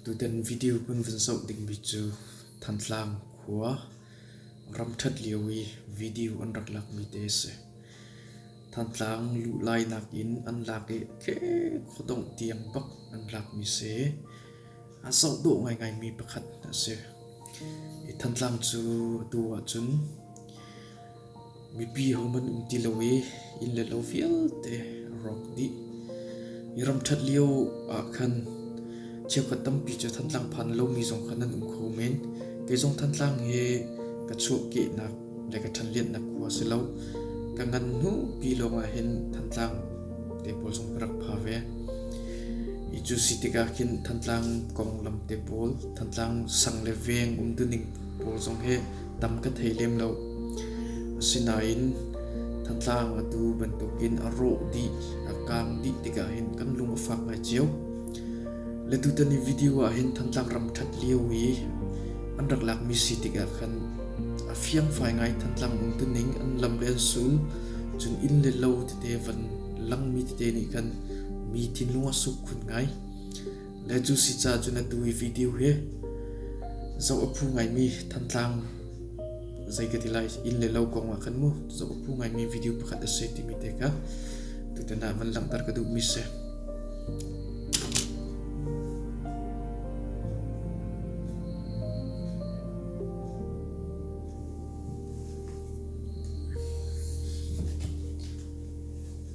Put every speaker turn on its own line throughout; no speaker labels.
Tutan video kan vun zoh dingmi cu Thantlang khua ramṭhat lio i video an rak lakmi te a si. Thantlang luhlainak in an lak i tleh khuadongh tiang bak an lakmi si i a zoh dawh ngaingaimi pakhat a si. Hi Thantlang cu atu ahcun Mipi hohmanh um ti lo i inn le lo vialte a rawk dih. I ram ṭhat lio ah khan cheukhat tampi cu Thantlang phan lomi zong kha nan um kho men. Kei zong Thantlang hi ka chuahkehnak le ka ṭhanlianhnak khua si lo. Ka ngan hnu pi lawngah hin Thantlang te pawl zong ka rak pha ve. I cu si tikah khin Thantlang konglam te pawl, Thantlang sang le veng umtuning pawl zong hi tam ka thei lem lo. Asinain thantlang atu bantukin a rawh dih, a kang dih tikah hin kan lung a fak ngai cio. Le tutan i video ah hin thantlang ram ṭhat lio i an rak lakmi si tikah khan a fiang fai ngai thantlang um tuning an lam le an sum cun inn le lo tete van langmi tete nih khan mi thinlung a suk khun ngai. Le cu si ca cu na tu i video hi zo a phu ngaimi thantlang zei ka ti lai in le lo kong ah khan mu zo a phu ngaimi video pakhat a si timi te ka tutana van langtar ka duh mi se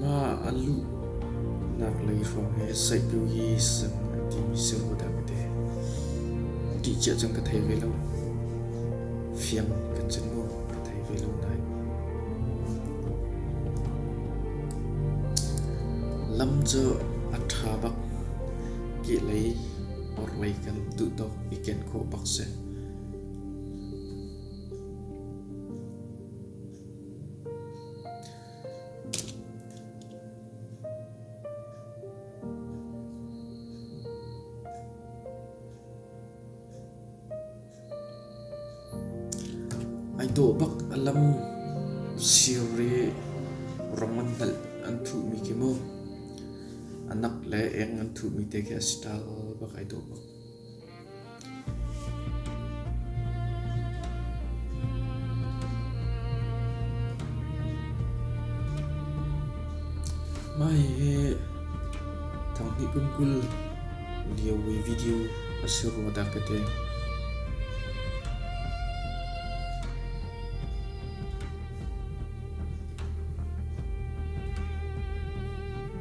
Mah a luhnak lei hrawng hi saihtu hi sam a timi si ru dah ka ti. Ṭih cia cun ka thei ve lo. Fiang kan cun maw ka thei ve lo nain. Lam cu a ṭha bak. Kih lei orhlei kan duh tawk i ken khawh bak si. Ai dawh bak a lam siri rong an hnalh an thuhmi khi maw, a nak le eng an thuhmi te khi a si tal bak ai dawh bak. Mah hi thanghnih kum kul lio i video a si rua dak ka te.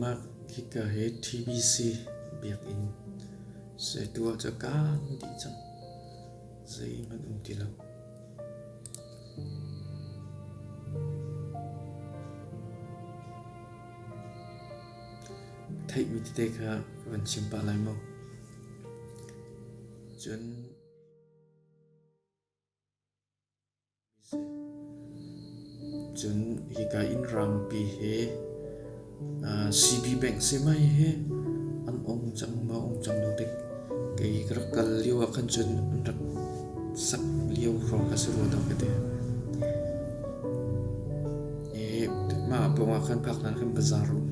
Mah hika hi TBC biakinn zeitu ah cu kaan dih cang. Zeihmanh um ti lo. Theihmi tete kha van chim pah lai maw? Cun Cun hika inn rangpi hi CB Bank si mai hi an um cang maw um cang lo tik kei ka rak kal lio ah khan cun an rak sak lio hrawng kha si rua dawh ka ti. Mah pawng ah khan phak nan khan bazar um.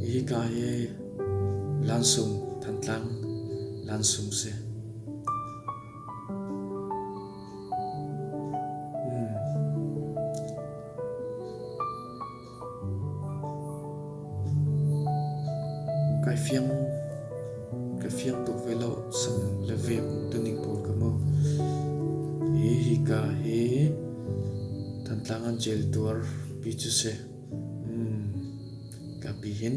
Hika hi lansung, Thantlang lansung si. kai fiang ka fiang tuk ve lo sam le vem tuning pawl ka mo hi hi ka hi thantlang an jel tuar pi chu se mm ka pi hin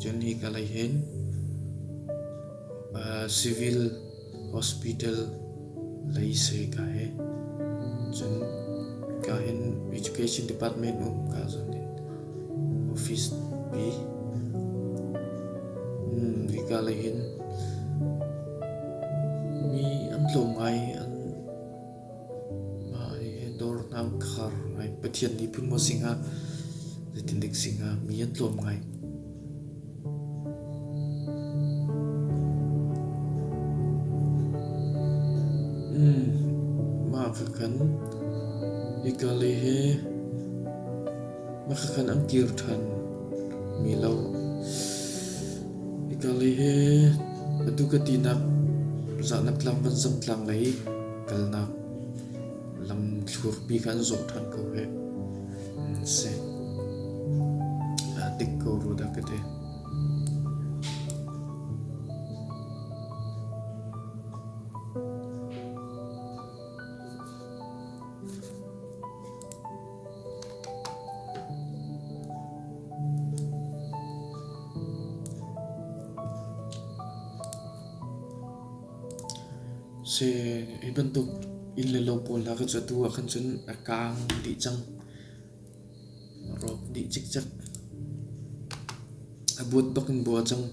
Cun hi ka lei hin civil hospital lei se ka he cun ka hin education department um ka zon hin office pi hi ka lei hin mi an tlawm ngai an Mah hi dawrnak khar ngai. Pathian nih phun maw sing ah zeitilik sing ah mi an tlawm ngai. Mah kha kan hika le he. Na ka kan ang kir ṭhan mi lo. Hika lei he atu ka tinak zahnak tlang vanzam tlang lei kalnak lam thlurpi kan zawh ṭhan ko he si dik ko ru da ka te Si hi bantuk inn le lo pawl hna kha cu atu ah khan cun a kaang dih cang. A rawk dih cikcek. A buat bak in bua cang.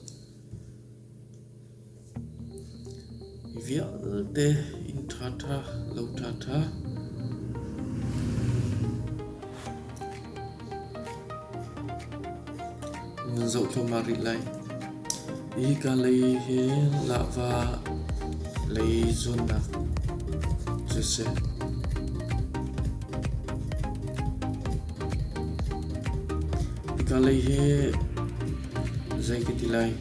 Vialte inn ṭhaṭha lo ṭhaṭha. Nan zoh thluahmah rih lai. Hika lei hi Lahva lei zuannak siseh. Hika lei hi zei ka ti lai.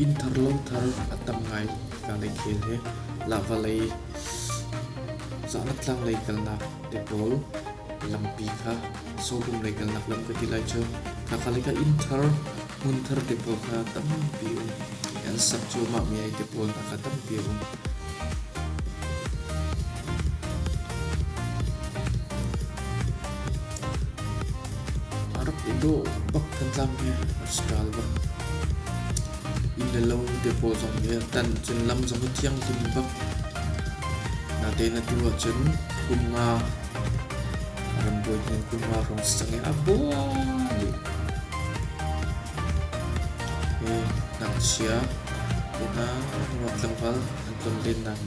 Inn thar lung thar a tam ngai tikhangdai thil hi lava lei zaangtlang lei kalnak te pawl lampi kha sawbung lei kalnak lam ka ti lai cu. Khaka lei ka inn thar hmun thar te pawl kha tampi um an sak cuahmah mi ai te pawl hna kha tampi um. A rak i dawh bak kan tlangmi Pascal bak. Inn le lo te pawl zong hi tan cun lam zong hi thianghlim bak. Natein atu ahcun kumnga ram bawi hnen kumnga rong sang i a baw nih Pu ngakchia, unau, nuam tlangval an ton lennak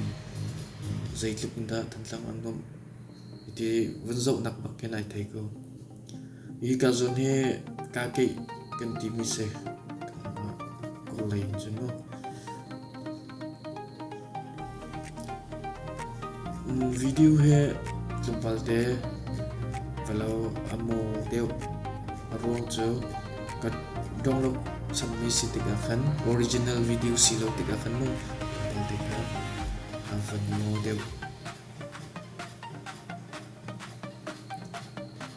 zeitluk in dah Thantlang an nuamh ti vun zohnak bak hin ai thei ko. Hika zawn hi kaa keih kan timi si. Kanmah kawlei in cun maw. Video hi tlawmpal te ka lo a maw deuh. A ruang cu ka dong lo sammi si tikah khan original video si lo tikah khan mu tel tikah a van maw deuh.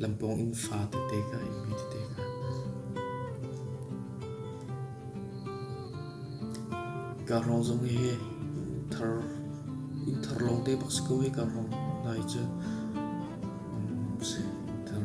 Lampawng in fa tete ka imi tete ka. Karong zong hi thar in thar long te bak ko hi karong nai cu thar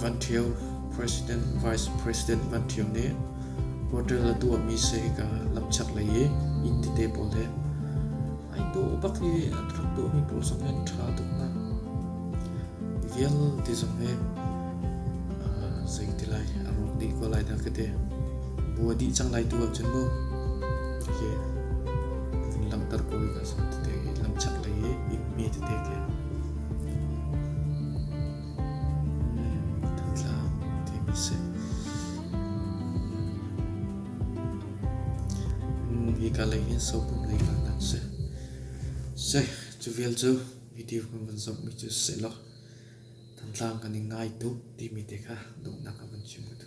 Van Ṭhio, President, Vice President Van Ṭhio nih hotel a tuahmi seika lamchak lei i inn tete pawl le ai dawh bak i an rak tuahmi pawl zong in ṭha tuknak vialte zong hi zei ti lai a rawk dih ko lai dah ka ti. Bua dih cang lai tu ahcun mu. Hi kan langhter ko i ka lam chak lei i inn me tete ke. Hika lei hin sopum lei ka nan se. Se, cu vial cu video kan van zop mi cu se lo. Tantlang kan i ngai tu timi te kha duhnak ka van chim ku tu.